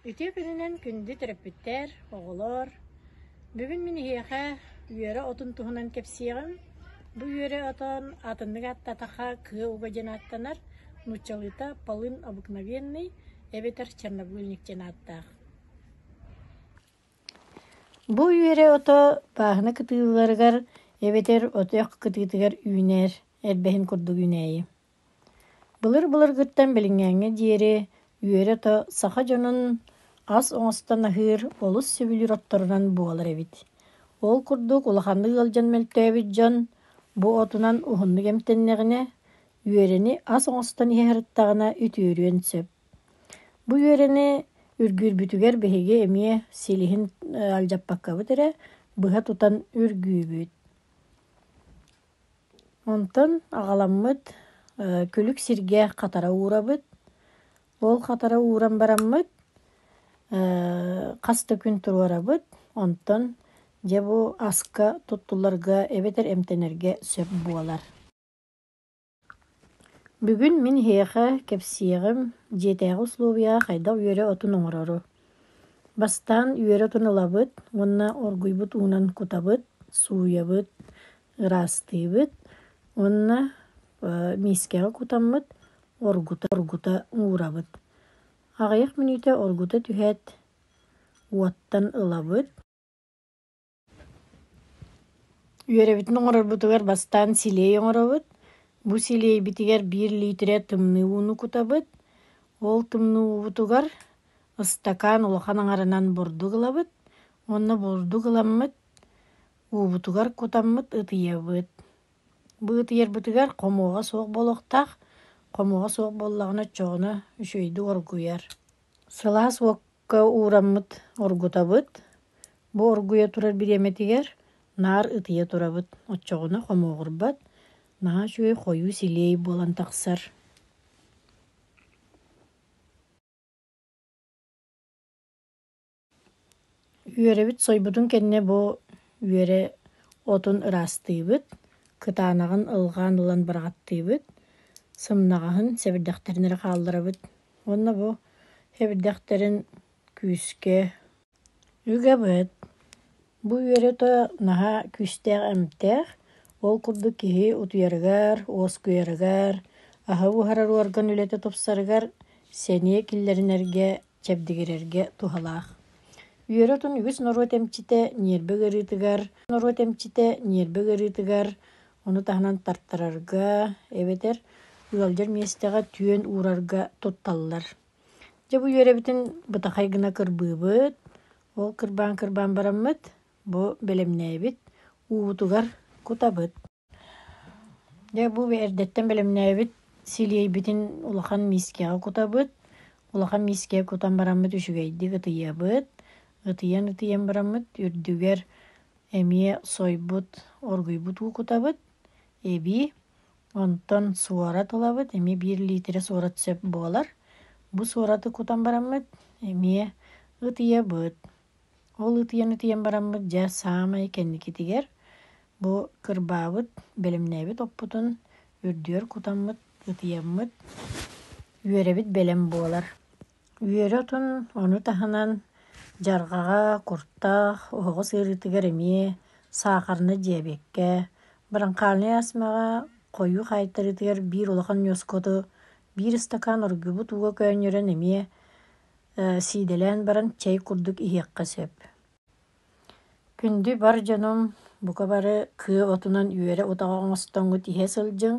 Үтүө күнүнэн күндү төрөппүттэр, оҕолор! Бүгүн мин эһиэхэ үөрэ отун туһунан кэпсиэҕим. Бу үөрэ отон атыннык ааттатахха «Кыа уга» диэн ааттанар, нууччалыыта «полын обыкновенный» эбэтэр «чернобыльник» диэн ааттаах. Бу үөрэ ото пааһына кытыыларыгар эбэтэр отох кытыытыгар үүнэр, элбэһин курдук үүнээйи. Былыр-былыргыттан билиҥҥээҥҥэ диэри үөрэ-то саха дьонун ас оҥостон аһыыр олус сөбүлүүр отторунан буолар эбит. Ол курдук улаханнык ыалдьан мөлтөөбүт дьон бу отунан уһуннук эмтэннэҕинэ, үөрэни ас оҥостон иһиһарыттаҕына үтүөрүөн сөп. Бу үөрэни үргүүрбүтүгэр биһиги эмиэ силиһин алдьаппаккабыт эрэ, быһа тутан үргүүбүт. Онтон аҕаламмыт күлүк сиргэ хатара уурабыт. Ол хатара ууран бараммыт хас да күн туруорабыт. Онтон дьэ бу аска туттулларга эбэтэр эмтэнэргэ сөп буолар. Бүгүн мин эһиэхэ кэпсиэҕим, дьиэтээҕи услуобуйаҕа хайдах үөрэ отун оҥорору. Бастаан үөрэ отун ылабыт уонна оргуйбут уунан кутабыт, сууйабыт, ыраастыыбыт уонна миискэҕэ кутаммыт, оргута оргута уурабыт. Аҕыйах мүнүүтэ оргута түһээт, уоттан ылабыт. Үөрэбитин оҥорорбутугар бастаан силиэй оҥоробут. Бу силиэйбитигэр биир лиитирэ тымныы ууну кутабыт. Ол тымныы уубутугар ыстакаан улахан аҥарынан бурдук ылабыт уонна бурдук ыламмыт уубутугар кутаммыт ытыйабыт. Бу ытыйарбытыгар хомуоҕа суох буолуохтаах. Хомуоҕа суох буоллаҕына оччоҕуна үчүгэйдик оргуйар. Сылаас уок уураммыт оргутабыт. Бу оргуйа турар бириэмэтигэр наар ытыйа турабыт. Оччоҕуна хомуоҕурбат, наһаа үчүгэй хойуу-силиэй буолан тахсар. Үөрэбит сойбутун кэннэ бу үөрэ отун ыраастыыбыт, кытаанаҕын ылгаан ылан быраҕаттыыбыт, сымнаҕаһын сэбирдэхтэрин эрэ хаалларабыт. Уонна бу эбирдэхтэрин күүскэ үгэбит. Бу үөрэтэ наһаа күүстээх эмтээх. Ол курдук киһи утуйарыгар, уоскуйарыгар, аһы буһарар уорган үлэтэ тупсарыгар, сэниэ киллэринэргэ, чэбдигирэргэ туһалаах. Үөрэтин үгүс норуот эмчитэ, ньиэрбэ ыарыытыгар, норуот эмчитэ, ньиэрбэ ыарыытыгар Ону таһынан тартарарга эбэтэр ыалдьар миэстэҕэ түөн уурарга тутталлар. Дьэ бу үөрэбитин бытахай гына кырбыыбыт. Ол кырбаан-кырбаан бараммыт, бу бэлэмнээбит, уубутугар кутабыт. Дьэ бу эрдэттэн бэлэмнээбит силиэйбитин улахан миискэҕэ кутабыт. Улахан миискэҕэ кутан бараммыт үчүгэйдик ытыйабыт. Ытыйан-ытыйан бараммыт үрдүгэр эмиэ сойбут, оргуйбут уу кутабыт, эбии. Онтон суорат ылабыт, эмиэ биир лиитирэ суорат сөп буолар. Бу суораты кутан бараммыт, эмиэ ытыйабыт. Ол ытыйан-ытыйан бараммыт, дьэ, саамай кэнникитигэр бу кырбаабыт, бэлэмнээбит оппутун үрдүгэр кутаммыт, ытыйаммыт, үөрэбит бэлэм буолар. Үөрэ отун, ону таһынан дьарҕаҕа, куртах, оһоҕос ыарыытыгар эмиэ саахарны, дьиэбиэккэ, быраҥхаанай астмаҕа, хойуу хаайтарыытыгар биир улахан ньуоскоту, биир ыстакаан оргуйбут ууга көөнньөрөн эмиэ сиидэлээн баран чэй курдук иһиэххэ сөп. Күндү бар дьонум, бука бары кыа отунан үөрэ утаҕы оҥостоҥҥут иһэ сылдьыҥ,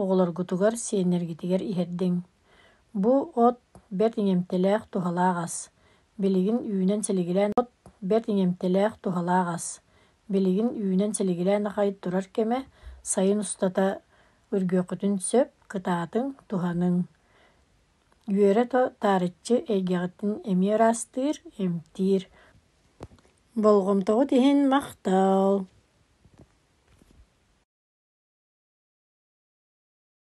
оҕолоргутугар, сиэннэргитигэр иһэрдиҥ. Бу от бэрт иҥэмтэлээх туһалаах ас. Билигин үүнэн-силигилээн от бэрт иҥэмтэлээх туһалаах ас. Билигин үүнэн-силигилээн аҕай турар кэмэ сайын устата үргүөххүтүн сөп, кытаатыҥ, туһаныҥ. Үөрэ-то таарыччы эйгэҕитин эмиэ ыраастыыр, эмтиир. Болҕомтоҕут иһин махтал!